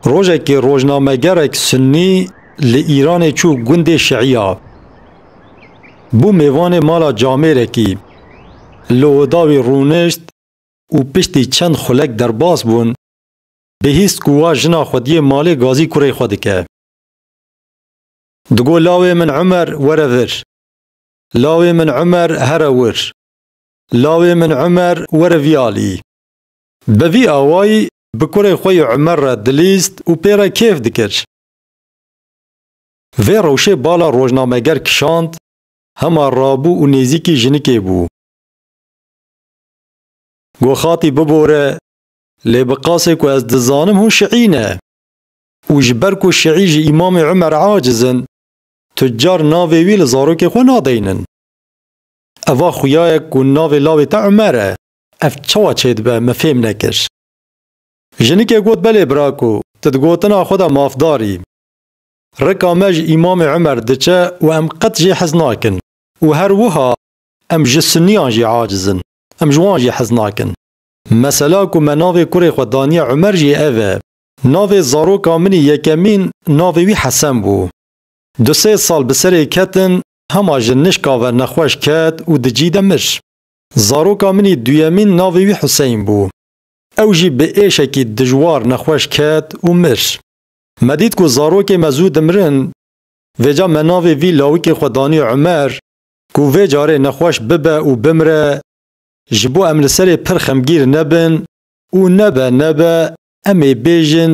Rojekê rojnamegerek Sunnî li Îranê çû gundê Şiiya. Bû mêvanê mala camêrekî. Li oda wî rûnişt û piştî çend xulek derbas bûn, bihîst ku wa jina xwediyê malê gazî kurê xwe dike. Digot lawê min Umer were vir. Lawê min Umer here wir. Lawê min Umer were vî alî. Bi vî awayî bi kurê xwe yê Umer re dilîst û pê re kêf dikir. Vê rewşê bala rojnameger kişand, hema rabû û nêzîkî jinikê bû. Got xatî bibore, lê bi qasê ku ez dizanim hûn şiî ne. Û ji ber ku şiî ji Îmamê Umer aciz in, tu car navê wî li zarokê xwe nadeynin. Eva xuyayek ku navê lawê te Umer e. Ev çawa çêdibe me fêm nekir. Jinikê got belê brako tu di gotina xwe de mafdar î. Rika me ji Îmamê Umer diçe û em qet jê hez nakin û her wiha em ji Sunniyan jî aciz in, em ji wan jî hez nakin. Mesela ku me navê kurê xwe daniye Umer jî ev e. Navê zaroka min î yekemîn navê wî Hesen bû. Du sê sal bi serê ketin hema ji nişka ve nexweş ket û di cî de mir. Zaroka min ê duyemîn navê wî Huseyn bû. Ew jî bi êşekî dijwar nexweş ket û mir. Me dît ku zarokê me zû dimirin. Vêca me navê vî lawikê xwe danî Umer ku vê carê nexweş bibe û bimire ji bo em li serê pir xemgîr nebin û nebe nebe em ê bêjin